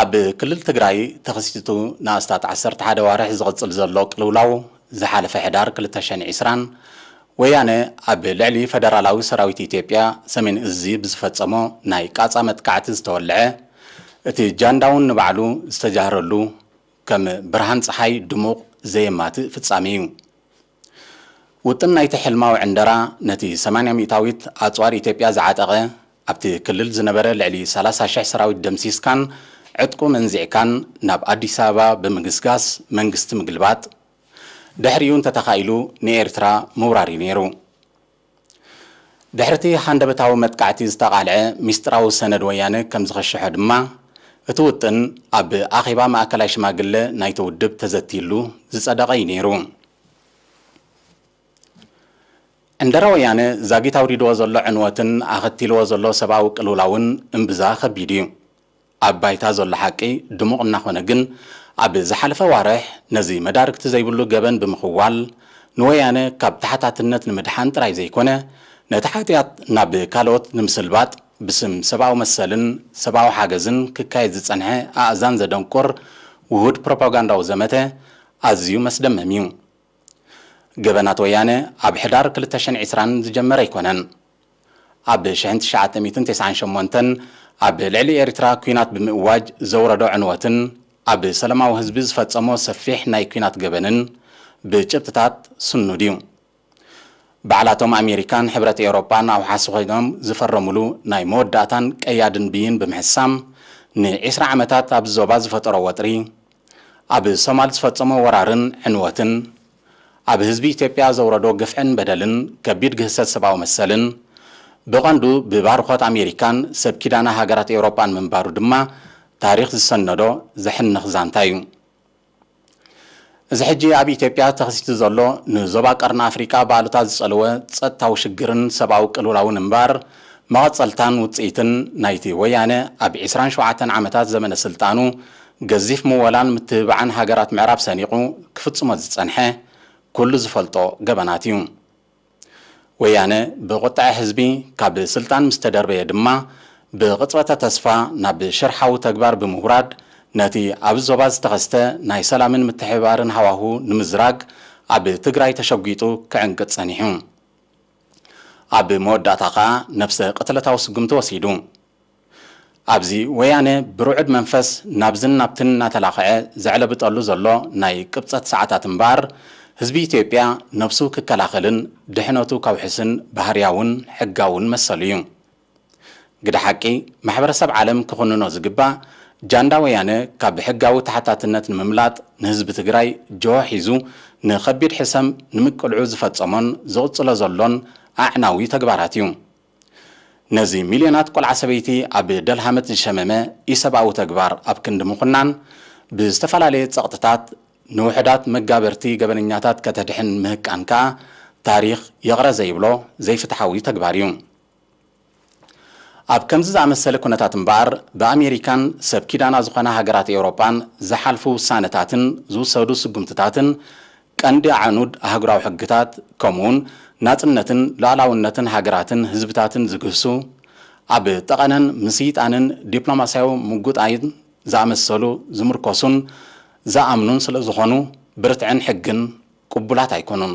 ኣብ ክልል ትግራይ ተኸሲቱ ንኣስታት ዓሰርተ ሓደ ኣዋርሕ ዝቕፅል ዘሎ ቅልውላው ዝሓለፈ ሕዳር ክልተ ሽሕን ዕስራን ወያነ ኣብ ልዕሊ ፈደራላዊ ሰራዊት ኢትዮጵያ ሰሜን እዝ ብዝፈፀሞ ናይ ቃፃ መጥቃዕቲ ዝተወልዐ እቲ ጃንዳውን ንባዕሉ ዝተጃህረሉ ከም ብርሃን ፀሓይ ድሙቕ ዘየማትእ ፍፃሜ እዩ። ውጥን ናይቲ ሕልማዊ ዕንደራ ነቲ ሰማንያ ሚእታዊት ኣጽዋር ኢትዮጵያ ዝዓጠቐ፣ ኣብቲ ክልል ዝነበረ ልዕሊ ሰላሳ ሽሕ ሰራዊት ደምሲስካን ዕጥቁ መንዚዕካን ናብ ኣዲስ ኣበባ ብምግስጋስ መንግስቲ ምግልባጥ፣ ድሕሪኡ እንተተኻኢሉ ንኤርትራ ምውራር'ዩ ነይሩ። ድሕሪ'ቲ ሃንደበታዊ መጥቃዕቲ ዝተቓልዐ ሚስጥራዊ ሰነድ ወያነ ከም ዝኸሸሖ ድማ፣ እቲ ውጥን ኣብ ኣኼባ ማእከላይ ሽማግለ ናይቲ ውድብ ተዘትይሉ ዝጸደቐ'ዩ ነይሩ። ዕንደራ ወያነ ዛጊት ኣውሪድዎ ዘሎ ዕንወትን ኣኸቲልዎ ዘሎ ሰብኣዊ ቅልውላውን እምብዛ ከቢድ'ዩ። ኣብ ባይታ ዘሎ ሓቂ ድሙቕ እናኾነ ግን ኣብ ዝሓለፈ ኣዋርሕ ነዚ መዳርግቲ ዘይብሉ ገበን ብምኽዋል ንወያነ ካብ ተሓታትነት ንምድሓን ጥራይ ዘይኮነ ነቲ ሓጥያት ናብ ካልኦት ንምስልባጥ ብስም ሰብኣዊ መሰልን ሰብኣዊ ሓገዝን ክካየድ ዝጸንሐ ኣእዛን ዘደንቁር ውሁድ ፕሮፓጋንዳዊ ዘመተ ኣዝዩ መስደመም እዩ። ገበናት ወያነ ኣብ ሕዳር ክልተ ሽሕን ዕስራን ዝጀመረ ኣይኮነን። ኣብ ሽሕን ትሽዓተ ሚእትን ቴስዓን ሸሞንተን ኣብ ልዕሊ ኤሪትራ ኩናት ብምእዋጅ ዘውረዶ ዕንወትን ኣብ ሰለማዊ ህዝቢ ዝፈጸሞ ሰፊሕ ናይ ኩናት ገበንን ብጭብጥታት ስኑድ እዩ። ባዕላቶም ኣሜሪካን ሕብረት ኤውሮጳን ኣውሓሲ ኮይኖም ዝፈረምሉ ናይ መወዳእታን ቀያድን ብይን ብምሕሳም ን ዒስራ ዓመታት ኣብዚ ዞባ ዝፈጠሮ ወጥሪ ኣብ ሶማል ዝፈጸሞ ወራርን ዕንወትን ኣብ ህዝቢ ኢትዮጵያ ዘውረዶ ግፍዕን በደልን ከቢድ ግህሰት ሰብኣዊ መሰልን ብቐንዱ ብባርኾት ኣሜሪካን ሰብ ኪዳና ሃገራት ኤውሮጳን ምንባሩ ድማ ታሪኽ ዝሰነዶ ዘሕንኽ ዛንታ እዩ። እዚ ሕጂ ኣብ ኢትዮጵያ ተኸሲቱ ዘሎ ንዞባ ቀርኒ ኣፍሪቃ ብኣሉታ ዝጸለወ ጸጥታዊ ሽግርን ሰብኣዊ ቅልውላውን እምበኣር መቐጸልታን ውጽኢትን ናይቲ ወያነ ኣብ ዕስራን ሸውዓተን ዓመታት ዘመነ ስልጣኑ ገዚፍ ምወላን ምትብባዕን ሃገራት ምዕራብ ሰኒቑ ክፍጽሞ ዝጸንሐ ኩሉ ዝፈልጦ ገበናት እዩ። ወያነ ብቑጠዐ ህዝቢ ካብ ስልጣን ምስ ተደርበየ ድማ ብቕጽበተ ተስፋ ናብ ሽርሓዊ ተግባር ብምውራድ ነቲ ኣብዚ ዞባ ዝተኸስተ ናይ ሰላምን ምትሕብባርን ሃዋሁ ንምዝራግ ኣብ ትግራይ ተሸጒጡ ክዕንቅጽ ጸኒሑ። ኣብ መወዳእታ ከኣ ነብሰ ቅትለታዊ ስጉምቲ ወሲዱ። ኣብዚ ወያነ ብርዑድ መንፈስ ናብዝን ናብትን እናተላኸዐ ዘዕለብጠሉ ዘሎ ናይ ቅብጸት ሰዓታት እምበኣር፣ ህዝቢ ኢትዮጵያ ነብሱ ክከላኸልን ድሕነቱ ከውሕስን ባህርያውን ሕጋውን መሰሉ እዩ። ግደ ሓቂ፣ ማሕበረሰብ ዓለም ክኹንኖ ዝግባእ፣ ጃንዳ ወያነ ካብ ሕጋዊ ተሓታትነት ንምምላጥ ንህዝቢ ትግራይ ጅሆ ሒዙ ንኸቢድ ሕሰም ንምቅልዑ ዝፈጸሞን ዝቕጽሎ ዘሎን ኣዕናዊ ተግባራት እዩ። ነዚ ሚልዮናት ቆልዓ ሰበይቲ ኣብ ደልሃመት ዝሸመመ ኢሰብኣዊ ተግባር ኣብ ክንዲ ምኹናን ብዝተፈላለየ ጸቕጥታት ንውሑዳት መጋበርቲ ገበነኛታት ከተድሕን ምህቃን ከኣ ታሪኽ ይቕረ ዘይብሎ ዘይፍትሓዊ ተግባር እዩ። ኣብ ከምዚ ዝኣመሰለ ኩነታት እምበኣር ብኣሜሪካን ሰብ ኪዳና ዝኾና ሃገራት ኤውሮጳን ዝሓልፉ ውሳነታትን ዝውሰዱ ስጉምትታትን ቀንዲ ኣዕኑድ ኣህጉራዊ ሕግታት ከምኡውን ናጽነትን ሉኣላውነትን ሃገራትን ህዝብታትን ዝግህሱ፣ ኣብ ጠቐነን ምስይጣንን ዲፕሎማሲያዊ ምጉጣይን ዝኣመሰሉ ዝምርኮሱን ዝኣምኑን ስለዝኾኑ ብርትዕን ሕግን ቅቡላት ኣይኮኑን።